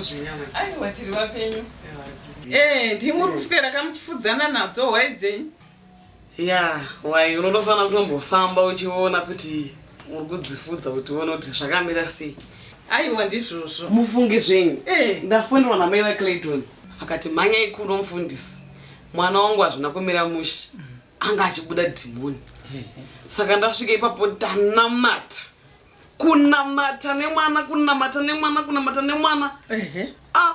zvenyama aiwa tiri vapenyu ee ndimuri kuswera kamuchifudzana nadzo hwai dzenyu Yaa why unotofanira kutombofamba uchiona kuti uri kudzifudza kuti uone kuti zvakamira sei aiwa ndizvozvo mufunge zvenyu Eh. ndafonerwa namai vaclayton vakati mhanyai kuno mufundisi mwana wangu hazvina kumira mushe anga achibuda dhimoni saka ndasvika ipapo tanamata kunamata nemwana kunamata nemwana kunamata nemwana Ehe. a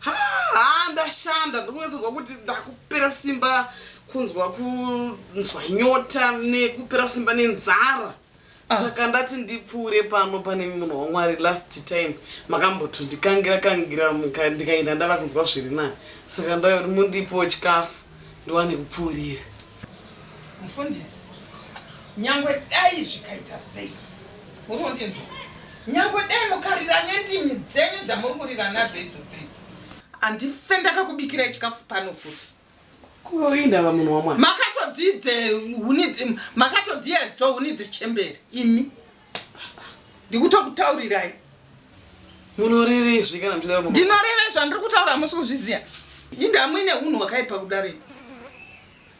haa ndashanda ndiri kunyatsonzwa kuti ndakupera simba kunzwa kunzwa nyota nekupera simba nenzara ah. saka ndati ndipfuure pano pane munhu wamwari last time makambotondikangira kangira ndikaenda ndava kunzwa zviri nani saka ndaiva kuti mundipowo chikafu ndiwane kupfuurira mufundisi nyangwe dai zvikaita sei Muri kundinzwa? Nyangwe dai mukarira nendimi dzenyu dzamuri kurira nadzo idzodzo idzi. Handife ndakakubikirai chikafu pano futi. Ko indava munhu wamwari. Makatodzidze huni dzi- makatodziedzwa huni dzechembere imi. Ndikutokutaurirai. Munorevezve kana muchidaro munhu. ndinoreve zvandiri kutaura hamusi kuzviziva inde hamuine unhu hwakaipa kudaro imi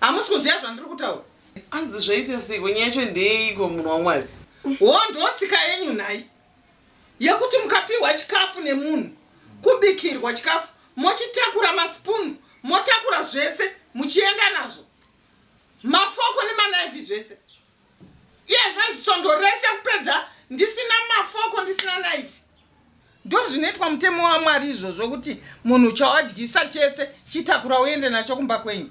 hamusi kuziva zvandiri kutaura Hanzi zvaita seiko nyaya yacho ndeyeiko munhu waMwari? Hondo tsika yenyu nhai yekuti mukapiwa chikafu nemunhu kubikirwa chikafu mochitakura maspoon motakura zvese muchienda nazvo mafoko nemanaifi zvese iye zvino zisondo rese kupedza ndisina mafoko ndisina naifi ndozvinoitwa mutemo wamwari izvozvo kuti munhu chawadyisa chese chitakura uende nacho kumba kwenyu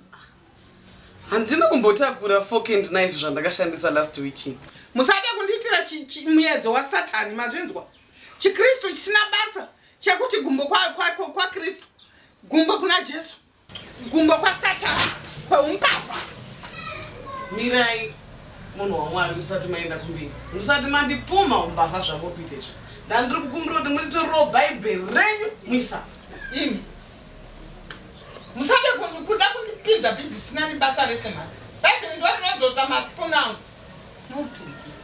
handina kumbotakura fork and knife zvandakashandisa last weekend musade kundiitira muyedzo wasatani mazvinzwa chikristu chisina basa chekuti gumbo kwakristu gumbo kuna jesu Gumbo kwasatani kweumbavha. Mirai munhu waMwari musati maenda kumberi. Musati mandipumha umbavha zvamuri kuita izvi. Ndandiri kukumbira kuti muritorewo bhaibheri renyu muisa. Imi. Musade kuda kundipinza bhizi zvisina nebasa rese mhani. Bhaibheri ndorirodzosa masipuna angu. Nonsense.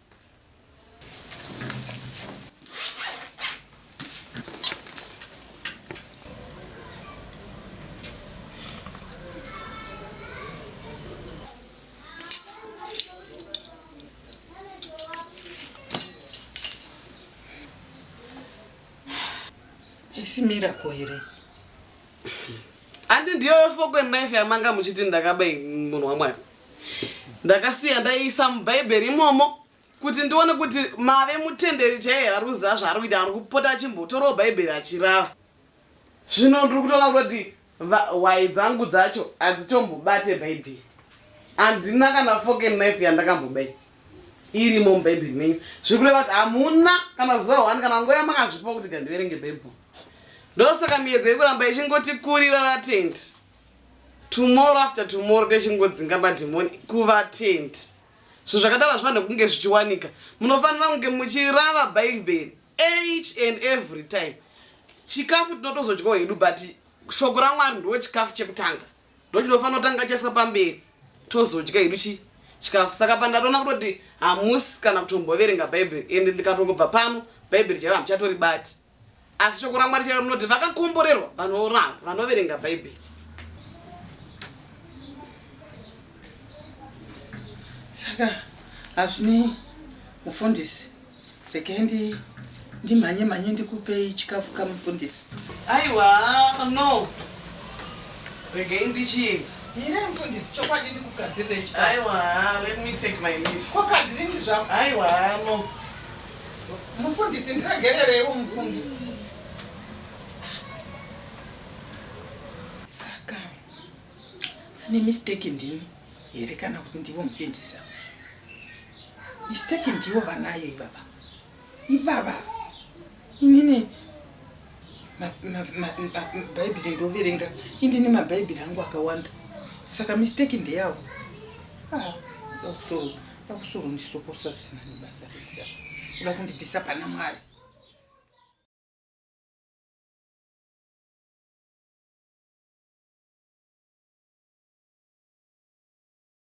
haisi miracle here handi ndiyo fokwe knife yamanga muchiti ndakaba munhu wamwari ndakasiya ndaiisa mubhaibheri imomo kuti ndione kuti mave mutenderi chaiye here ari kuziva zvaari kuita ari kupota achimbotorawo bhaibheri achirava zvino ndiri kutoona kuti hwai dzangu dzacho hadzitombobate bhaibheri handina kana foken knife yandakambobai irimo mubhaibheri menyu zviri kureva kuti hamuna kana zuva one kana nguva yamakazvipa kuti gandiverenge bhaibheri ndosaka miedzo yekuramba ichingotikurira vatendi tomorrow after tomorrow techingodzinga madhimoni kuvatendi zvinhu zvakadaro hazvifanire kunge zvichiwanika munofanira kunge muchirava bhaibheri each and every time chikafu tinotozodyawo hedu but shoko ramwari ndo chikafu chekutanga ndo chinofanira kutanga chaiswa pamberi tozodya hedu chi chikafu saka pandatoona kutoti hamusi kana kutomboverenga bhaibheri ende ndikatongobva pano bhaibheri chaivo hamuchatori bati asi shoko ramwari chero rinoti vakakomborerwa vanoranga vanoverenga bhaibheri saka hazvinei mufundisi rekendi ndimhanye mhanye ndikupei chikafu kamufundisi aiwa no regei ndichiiti mire mufundisi chokwadi ndikugadzirirei aiwa let me take my leave kwakadirini zvako aiwa no Mufundisi ndiregerereiwo mufungi. Saka ane mistake ndini here kana kuti ndivo mufindisa? Mistake ndivo vanayo ivava. Ivava. Inini mabhaibhiri ndoverenga indini mabhaibhiri angu akawanda saka misteki ndeyavo ah, dakusoro ndisokosa zvisina nebasa rese uda kundibvisa pana mwari